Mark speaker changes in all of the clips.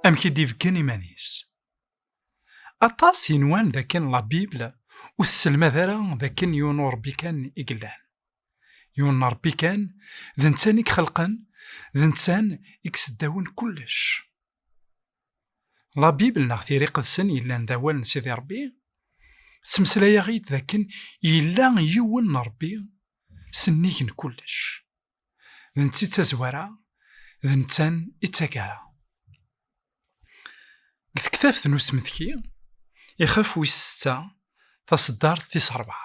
Speaker 1: amek i d-ibeggen iman-is. Aṭas yenwan d akken la Bible ur tesselmad ara d akken yiwen ur Rebbi kan i yellan. Yiwen n Rebbi kan, d netta i ixelqen, d netta i iseddawen kullec. La Bible neɣ tiri qedsen yellan d awal n Sidi Rebbi, ttmeslayaɣ-id d akken yella yiwen n Rebbi s nnig n kullec. D netta i d tazwara, d netta i d tagara. Deg tektabt n usmetki, ixef wis setta, taṣeddart tis rebɛa,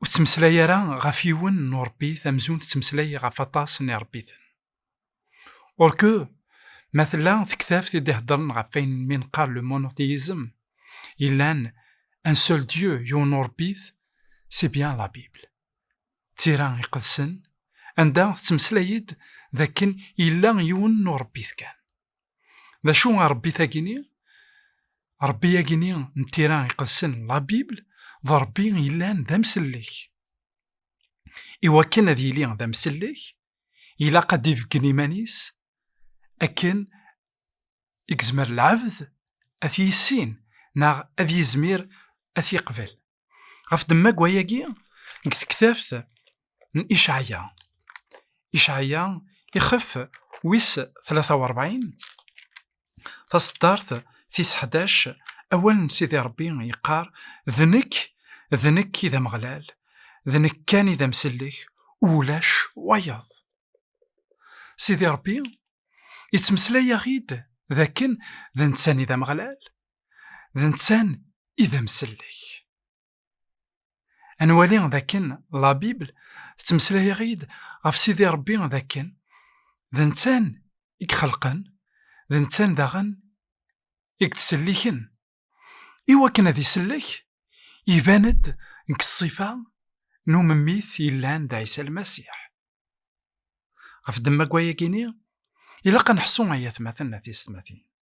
Speaker 1: ur tettmeslay ara ɣef yiwen n urebbi tamzun tettmeslay ɣef aṭas n irebbiten orke ma tella tektabt i d-iheddren ɣef ayen mi neqqar le monothéism yellan un seul dieu yiwen n urebbit c'est bien la bible d tira iqedsen anda tettmeslay-d d akken yella yiwen n urebbit kan D acu a Ṛebbi tagini? Ṛebbi agini n tira iqedsen la Bible d Ṛebbi yellan d amsellek. Iwakken ad yili d amsellek, ilaq ad d-ibeggen iman-is akken i yezmer lɛebd ad t-yissin neɣ ad yizmir ad t-yeqbel. ɣef demmag wayagi deg tektabt n icaɛya icaɛya ixef wis 43 taseddart tis 11 awal n sidi rebbi yeqqar d nekk d nekk i d ameɣlal d nekk kan i d amsellek ulac wayeḍ sidi rebbi yettmeslay-aɣ-id d akken d netta-ni d ameɣlal d netta i d amsellek. Ad nwali d akken la Bible tettmeslay-aɣ-id ɣef Sidi Rebbi d akken d netta i ixelqen, d netta daɣen i yettselliken. I wakken ad isellek, iban-d deg ṣṣifa n umemmit yellan d Ɛisa Lmasiḥ. Ɣef ddemma n wayagi-nni, ilaq ad neḥṣu ay atmaten d tisetmatin.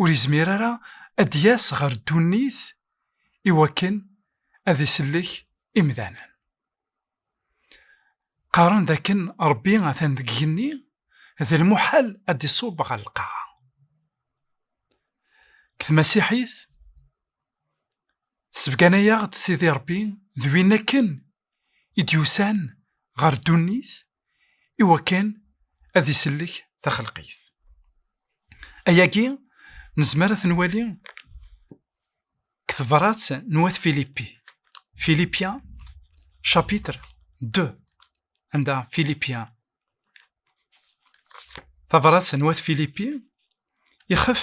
Speaker 1: ur izmir ara ad d-yas ɣer ddunit i wakken ad isellek imdanen. Qqaren d akken Rebbi atan deg igenni, d lmuḥal ad d-iṣubb ɣer lqaɛa. Deg tmasiḥit, sebgan-ayaɣ-d Sidi Rebbi d win akken i d-yusan ɣer ddunit i wakken ad isellek taxelqit. Ayagi nezmer ad ten-wali deg tebrat n wat Filipi, Filipien chapitre 2, anda Filipien tabrat n wat Filipi ixef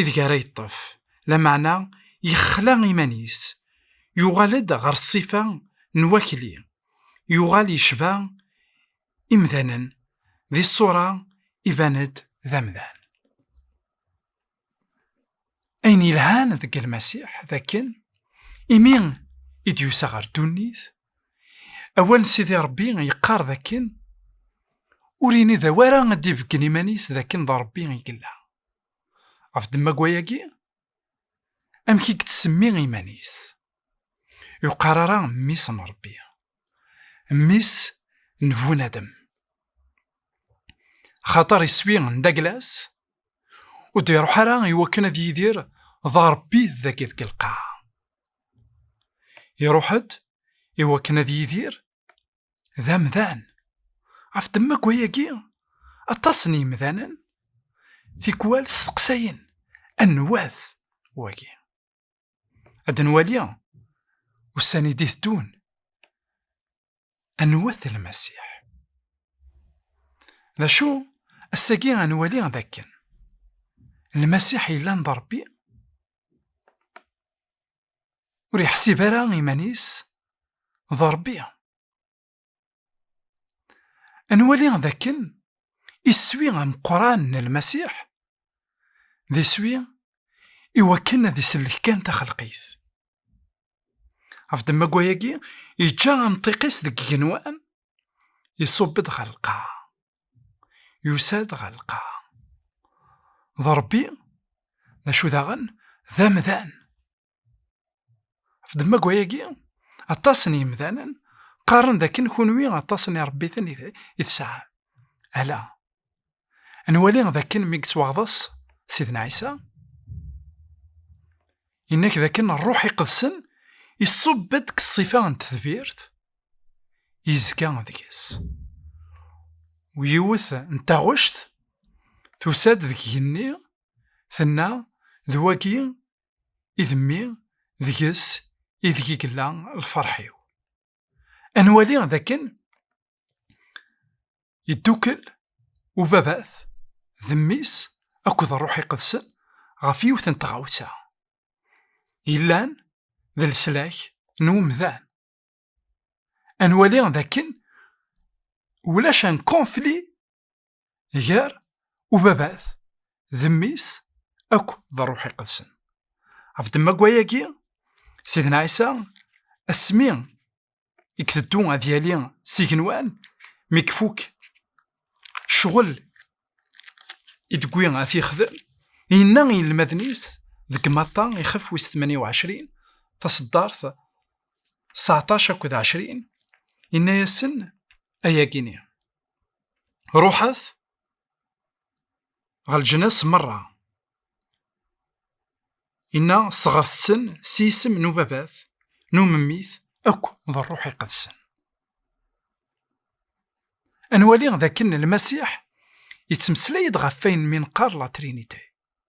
Speaker 1: ideg ara yeṭṭef lameɛna yexla iman-is yuɣal-d ɣer ṣṣifa n wakli yuɣal yecba imdanen di ṣṣura iban-d d amdan ayen yelhan deg lmasiḥ d akken imi i d-yusa ɣer ddunit Awal n Sidi Ṛebbi yeqqar d akken, ur ini d awara ad d-ibeggen iman-is d akken d Ṛebbi i yella. Ɣef ddemma n wayagi, amek i yettsemmi iman-is? Ur yeqqar ara Mmi-s n Ṛebbi, Mmi-s n Bunadem. Axaṭer iswi n Daglas ur d-iṛuḥ ara i wakken ad yidir d Ṛebbi dagi deg lqaɛa. Iruḥ-d i wakken ad yidir d amdan. Ɣef ddemma wayagi, aṭas n yemdanen tikwal steqsayen anwa-t wagi. Ad nwali ussan i d-iteddun Anwa-t Lmasiḥ? D acu ass-agi ad nwali d akken Lmasiḥ yellan d Ṛebbi? Ur yeḥsib ara iman-is d Ṛebbi. Ad nwali d akken iswi ameqqran n Lmasiḥ d iswi iwakken ad isellek kan taxelqit. Ɣef ddemma-agi, yeǧǧa amṭiq-is deg igenwa, iṣubb-d ɣer lqaɛa. Yusa-d ɣer lqaɛa. D Rebbi, d acu daɣen, d amdan. Ɣef ddemma-agi, aṭas n yemdanen qqaren d akken kunwi aṭas n irebbiten i tesɛam. Ala, nwali d akken mi yettwaɣḍes Sidna Ɛisa, yenna-k d akken ṛṛuḥ iqedsen iṣubb-d deg ṣṣifa n tedbirt, yezga deg-s. U yiwet n taɣect tusa-d deg igenni, tenna, D wagi i d mmi deg-s ideg i yella lferḥ-iw. Ad nwali d akken yeddukel ubabat d mmi-s akked ṛṛuḥ iqedsen ɣef yiwet n tɣawsa yellan d leslak n umdan. Ad nwali d akken ulac un conflit gar ubabat d mmi-s akk d ṛṛuḥ iqedsen. Ɣef ddemma n wayagi, Sidna Ɛisa asmi i iteddu ad yali s igenwan mi ifuk ccɣel i d-wwi ad t-yexdem, yenna i yinelmaden-is deg Matta ixef wis tmanya u ɛecrin taṣeddart seɛṭac akked ɛecrin, yenna-yasen ayagi-nni. ruḥet ɣer leǧnas merra inna ṣeɣret-ten s yisem n ubabat n umemmit akk d ṛṛuḥ iqedsen ad nwali d akken lmasiḥ yettmeslay-d ɣef wayen mi neqqar la trinité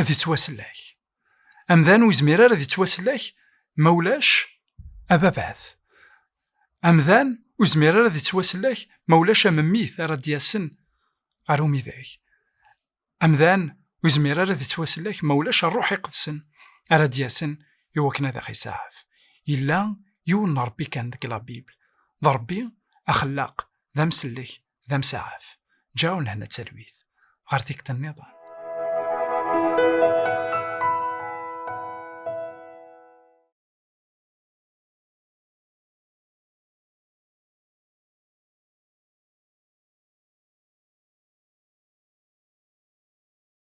Speaker 1: ad yettwasellek. Amdan ur yezmir ara ad yettwasellek ma ulac ababat. Amdan ur yezmir ara ad yettwasellek ma ulac amemmit ara d-yasen ɣer umidag. Amdan ur yezmir ara ad yettwasellek ma ulac ṛṛuḥ iqedsen ara d-yasen i wakken ad aɣ-isaɛef. Yella yiwen n Ṛebbi kan deg la Bible, d Ṛebbi axellaq, d amsellek, d amsaɛaf ǧaɛun hna d talwit ɣer tikta nniḍen